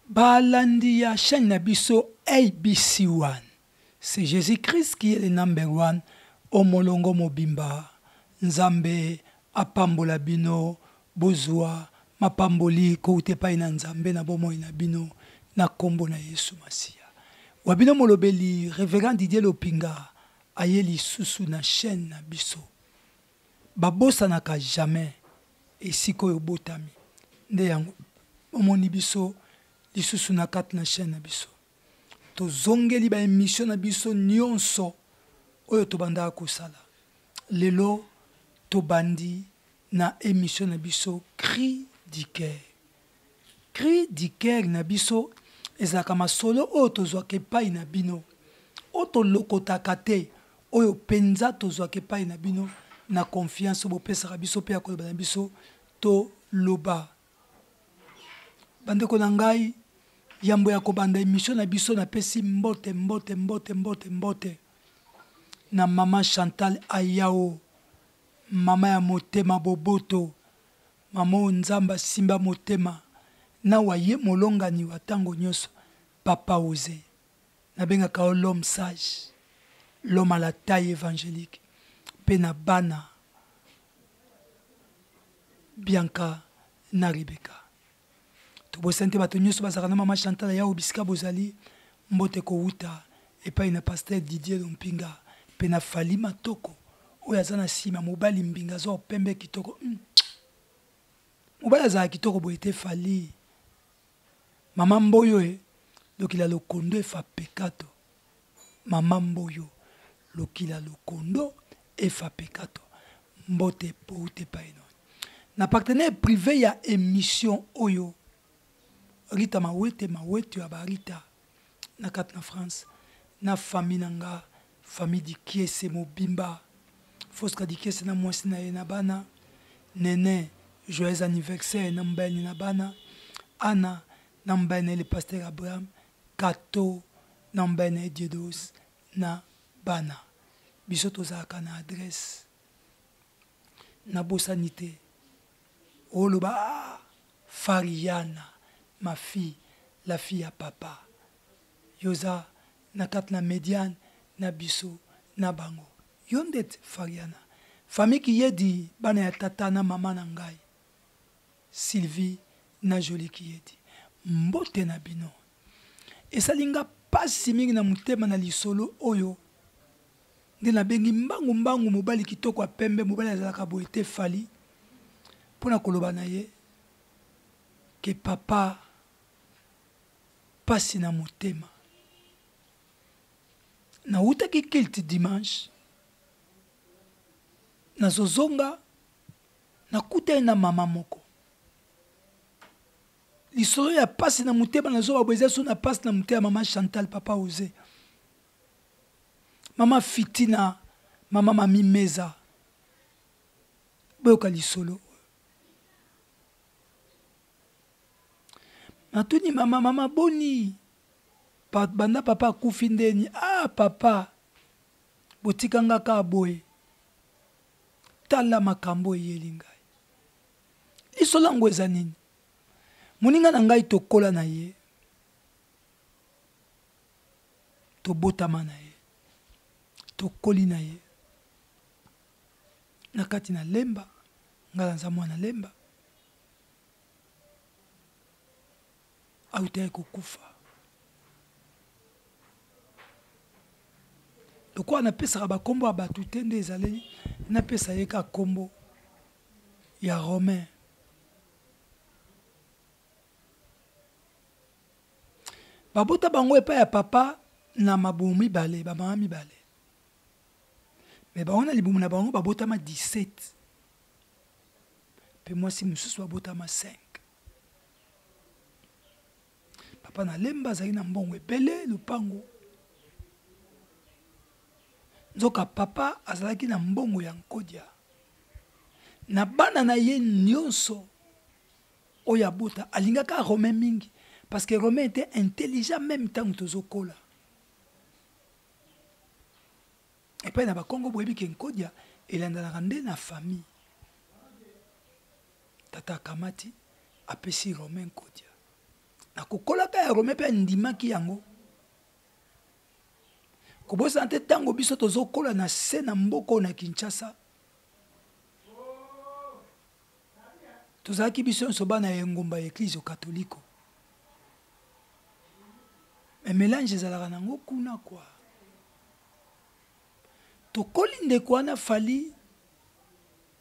Ba landi ya chaine na biso ABC one c'est Jesus Christ qui est le number one o molongo mobimba nzambe a pambola bino bozua mapamboli kowuta epayi na nzambe na bomoi na bino na kombo na yesu masiya wa bino molobeli reverend Didier Lopinga aye lisusu na chaine na biso. Babosanaka jamais esika oyo obotami nde yango bomoni biso lisusu na kati na chaine na biso tozongeli ba emission na biso nionso oyo tobandaka kosala lelo tobandi na emission na biso cri du coeur Cri du coeur na biso ezalaka masolo oyo tozwaka epai na bino, oyo tolokotaka te, oyo mpenza tozwaka epai na bino na konfianse oyo bopesaka biso mpe ya koloba na biso toloba. Bandeko na ngai, yambo ya kobanda emission na biso napesi mbote mbote mbote mbote mbote na mama Chantal Ayao, mama ya motema boboto. Maman oyo nzambe asimba motema nawa ye molongani wa tango nioso papa ose nabengaka yo l'homme sage l'homme à la taille evangelique pe na bana bianca na rebecca. tobosani te bato nyonso bazalaka na mama chantal yao bisika bozali mbote kowuta epai na pasteur didier lompinga mpe na fali matoko oyo aza na nsima mobali mbinga aza opembe kitoko mm. mobali azalaka kitoko boye te fali mama mboyo e lokila lokondo efa pekato Maman Mboyo lokila lokondo Efa Pekato mbote pouta epai no na partenaire prive ya emission oyo Rita Mawete Mawete ya ba Rita na kati na France na famille na nga famille Dikiese mobimba Fosca Dikiese na mwasi na ye na bana Nene joyeux anniversaire na mobali na bana Anna na mobali na ye le pasteur Abraham Kato na mbene diedos na bana biso tozalaka na adresse na bosani te oloba ah fariana ma fille la fille ya papa yoza na kati na mediane na biso na bango yo ndeti fariana famille kiyedi bana ya tata na mama na ngai Sylvie na Jolie Kiyedi mbote na bino. Esali nga pasi mingi na motema na lisolo oyo nde nabengi mbangu mbangu mobali kitoko ya pembe mobali azalaka boye te fali mpo na koloba na ye ke papa pasi na motema nawutaki kilte dimanche nazozonga Nakutani na mama moko lisolo ya pasi na motema na zoba boye eza so na pasi na motema mama chantal papa ose mama fitina mama mami meza boyoka lisolo natuni mama mama boni pa, banda papa akufi ndeni ah papa botika nga kaka boye Tala makambo eyeli ngai. Liso lango eza nini? Moninga na ngai tokola na ye. Tobotama na ye. Tokoli na ye. Na kati na Lemba, ngai naza mwana Lemba. autaki kokufa lokola napesaka bakombo ya bato te nde ezaleli napesa ye ka kombo ya romain babota bango epai ya papa na mabumu mibale bamama mibale me bango na libumu na bango babotama 17 mpe mwasi mosusu babotama 5 papa na lemba azali na mbongo ebele lupango nzoka papa azalaki na mbongo ya nkodia na bana na ye nyonso oyo abota alingaka romain mingi parce que romain était intelligent même ntango tozokola epai na bakongo boyebi ke nkodia elandanaka nde na famille Tata akamati, apesi Romain Nkodia. Na kokolaka ya Romain mpe andimaki yango. Kobosana te ntango biso tozokola na se na mboka oyo na Kinshasa, tozalaki biso nyonso bana ya engumba ya eklizio katoliko. Me melange ezalaka nango kuna kwa. Tokoli ndeko wana Fally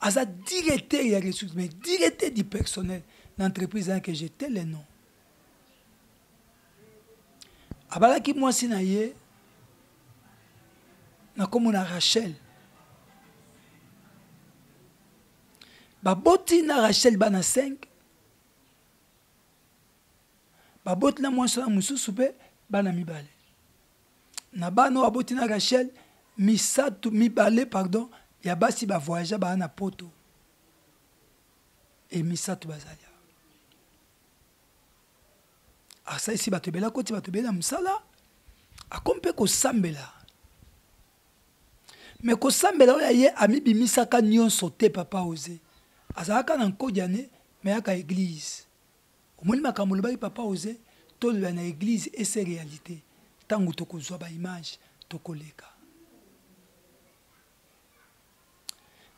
aza directeur ya ressource mais directeur du personnel na entreprise wana que j'étais le nom abalaki mwasi na ye na nkombo na rachel baboti na rachel bana 5 baboti na mwasi wana mosusu mpe bana mibale na bana oyo aboti na rachel misato mibale pardon ya basi bavoyagea baa na poto e misato bazali awa asalisi bato ebele akoti bato ebele na mosala akomi mpe kosambela me kosambela oyo ya ye amibimisaka nyonso te papa oze azalaka na nkodiane me yaka eglize Omoni makambo olobaki papa oze tolola na eglise et c'est realite tango tokozwa ba image tokoleka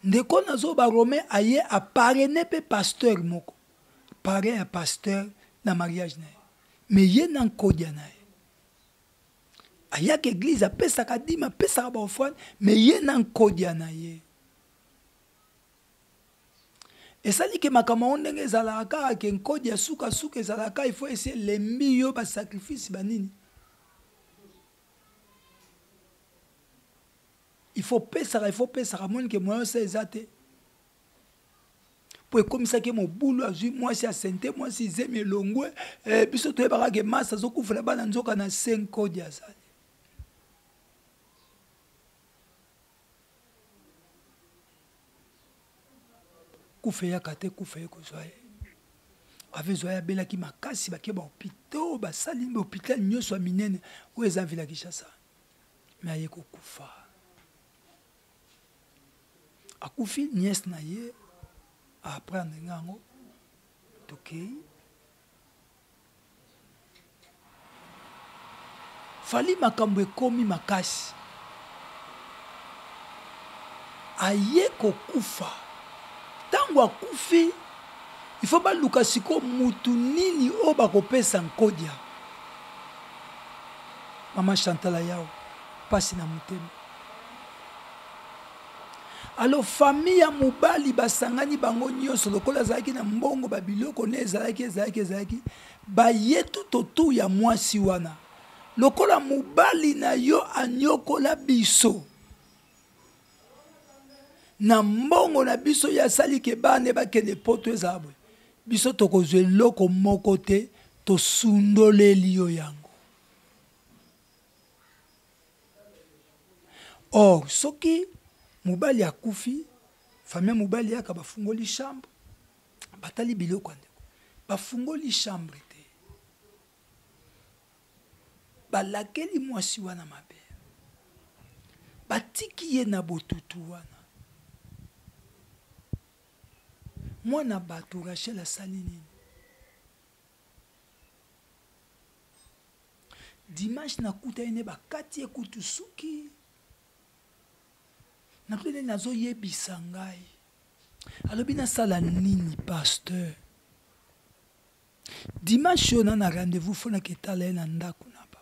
ndeko nazo ba romain aye aparene mpe pasteur moko parrain ya pasteur na mariage na ye me ye na nkodia na ye ayaka eglise apesaka dima apesaka baofrane me ye na nkodia na ye esali ke makambo yango ndenge ezalaka kaka ke nkodi ya sukasuka ezalaka il faut esi elembi yo basacrifice banini il faut pesaka il faut pesaka moni ke moyen osa eza te mpo ekomisaki mobulu azwi mwasi ya sente mwasi izemi elongwe eh, biso toyebaka ke masi azokufela bana nzoka na se nkodi azali kufa eyaka te kufa ekozwa ye ave ezwa ye abelaki makasi bake bahopito basali hopital nyonso ya minene oyo eza vila kinshasa me aye kokufa akufi niese na ye aaprendre nga yango tokei fali makambo ekomi makasi aye kokufa ntango akufi ifo baluka sikoyo mutu nini oyo bakopesa nkodia mama chantala yao mpasi na motema Alors famille ya mobali basangani bango nyonso lokola azalaki na mbongo ba biloko ne ezalaki ezalaki ezalaki baye tout autour ya mwasi wana lokola mobali na yo anyokola biso na mbongo na biso ye asali ke bana bakende poto ezala boye biso tokozwa eloko moko te tosundoleli yo yango or soki mobali akufi famille mobali yaka bafungoli chambre batali biloko ya ndeko bafungoli chambre te balakeli mwasi wana mabe batiki ye na botutu wana mwana bato rachel asali nini dimanche nakutani ne bakati ye kutu suki nakutani ne nazoyebisa ngai alobi nasala nini pasteur dimanche oyo na na rendez-vous fo naketala ye na ndako na ba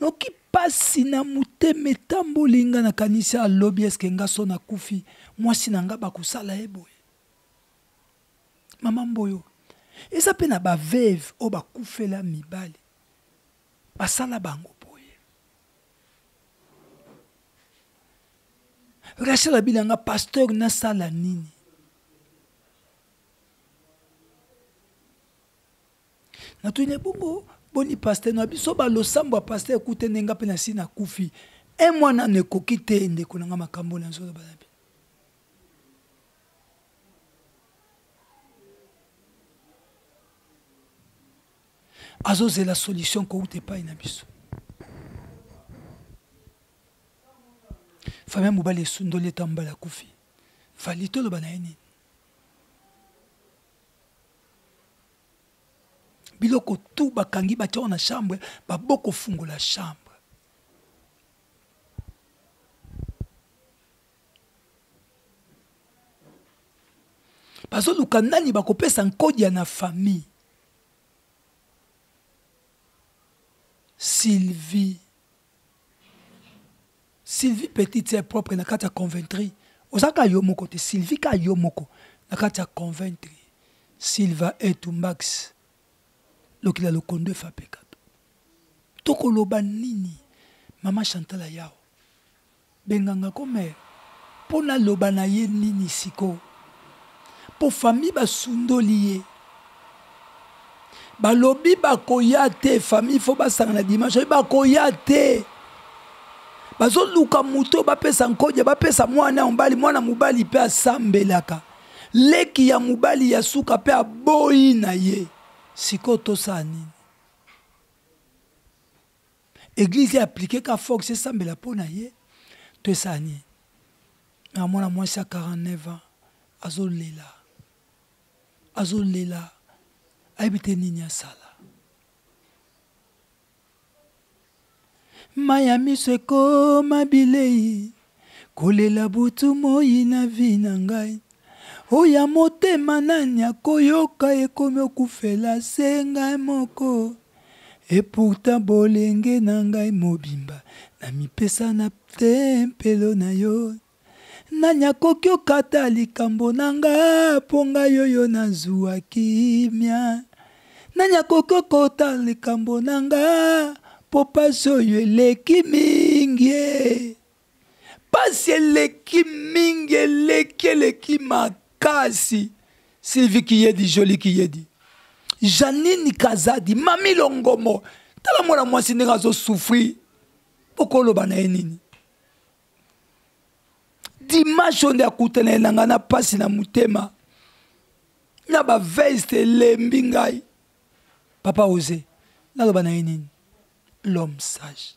noki mpasi na motema etamboli nga nakanisi alobi eske nga so nakufi mwasi na nga bakosala ye boye Maman Mboyo, eza pe na ba veuve oyo bakufela mibali. Basala bango boye. Rachel abina nga pasteur nasala nini? Natuni bongo boni pasteur na biso ba losambo ya pasteur ekute nde nga pe nasi nakufi. Un mois nanu ekoki te ndeko na nga makambo nazoloba na azozela solution kouta epai na biso fami ya mobali esundoli eto mbala akufi fali toloba na ye nini biloko tu bakangi batyao na chambre babokofungola chambre bazoluka nani bakopesa nkodia na famille sylvie sylvie petite sœur propre na kati ya conventry oza ka yo moko te sylvie ka yo moko na kati ya conventry silva etumbax lokila lokondo efapekato tokoloba nini mama chantal ayao Benganga ko mais po na loba na ye nini siko? Po famille ba sundoli ye ba lobi ba koya te famille faut ba sanga na dimanche oyo ba koya te ba zo luka moto ba pesa nkodia ba pesa mwana ya mobali mwana mobali pe asambelaka leki ya mobali ya suka pe aboyi na ye siko to sa nini Eglise applique ka Fox esambela mpo na ye to esala nini? Na mwana mwasi ya 49 ans azolela azolela ayebi te nini asala. Maya miso ekoma bilei Kolela butu moyi na vie na ngai Oya motema nani akoyoka ekomi okufela se ngai moko Et pourtant bolenge na ngai mobimba Na mipesa na tempelo na yo Nani akoki okata likambo na nga Po ngai oyo nazuwa kimia nani akoki okota likambo na nga mpo mpasi oyo eleki mingi mpasi eleki mingi eleki eleki makasi sylvie kiyedi joli kiyedi janine kazadi mami longomo tala mwana mwasi ndenge azosufri okoloba na ye nini dimanche oyo nde akutana ye na ngai na mpasi na motema na baveste elembi ngai papa ose naloba na ye nini l'homme sage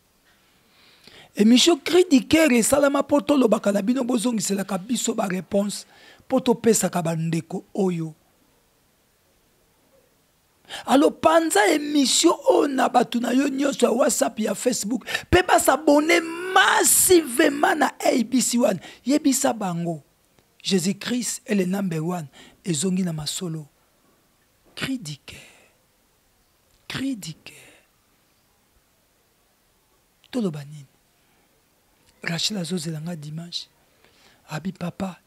emission cri du cœur esalama mpo tolobaka na bino bozongiselaka biso bareponse mpo topesaka bandeko oyo alo panza emission oyo na bato na yo nyonso ya whatsapp ya facebook mpe basabone massivement na abc wana yebisa bango jésus christ est le number one ezongi na masolo cri du cœur cri du cœur toloba nini rachel azozela nga dimanche abi papa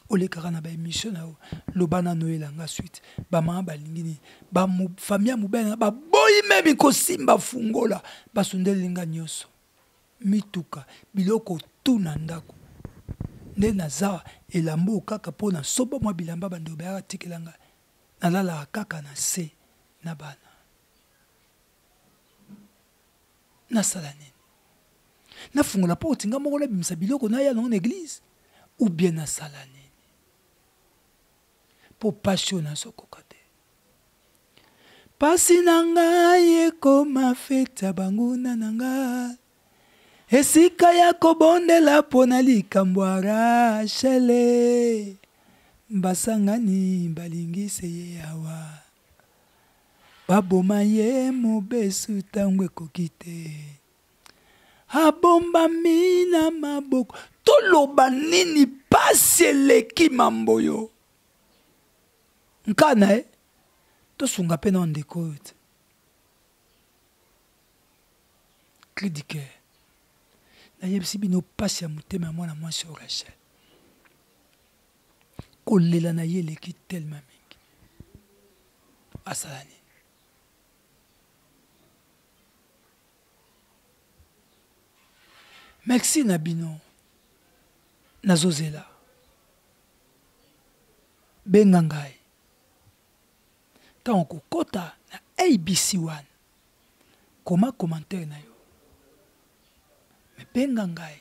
olekaka na baémission na yo loba nano oyela nga suite bamama balingi nini bafamille ya mobali na baboyi memi kosimba fungola basundeli nga nyonso mituka biloko tu na ndako nde naza elamba oyo kaka mpo na somba mwa bilamba bandeko bayaka tikela nga nalalaka kaka na se na bana nasala nini nafungola porte nga moko nabimisa biloko naya nango na eglize ou bien nasala nini mpo mpasi oyo nazokoka te mpasi na ngai ekoma feti ya banguna na nga esika ya kobondela mpo na likambo ya rachele basangani balingise ye awa Baboma ye mobesu ntango ekoki te. Abombami na maboko. Toloba nini pasi eleki mambo yo. Nkana eh? tosunga mpe na ndeko oyo te cridike nayebisi bino mpasi ya motema ya mwana mwasi oyo rachel kolela na ye eleki telema mingi asala nini merci na bino nazozela benga ngai ntango kokɔta na abc wana koma commentaire na yo mebenga ngai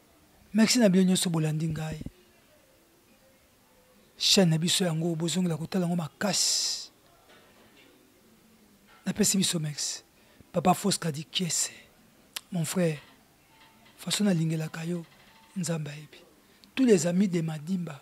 merci na bino nyonso bolandi ngai chaîne na biso yango bozongela kotala yango makasi napesi biso merci papa fosca di kiese mon frère façon nalingelaka yo nzambe ayebi tous les amis de madimba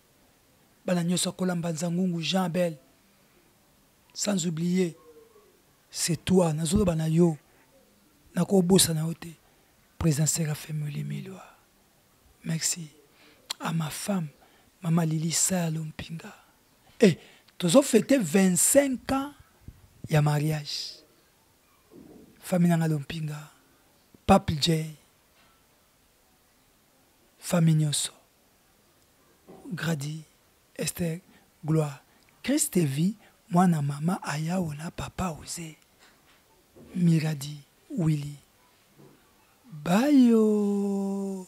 bana nyoso akola mbanza ngungu jean abel sans oublier c'est toi nazoloba na yo nakobosana yo te président serafe molimilwa merci à ma femme mama lili sayalo mpinga e eh, tozofete 25 ans ya mariage famille nanga lompinga paple j famille nyonso Grady, Esther, Gloire, Christe vie mwana mama ayao na papa oze Miradi, Willy, Bayo.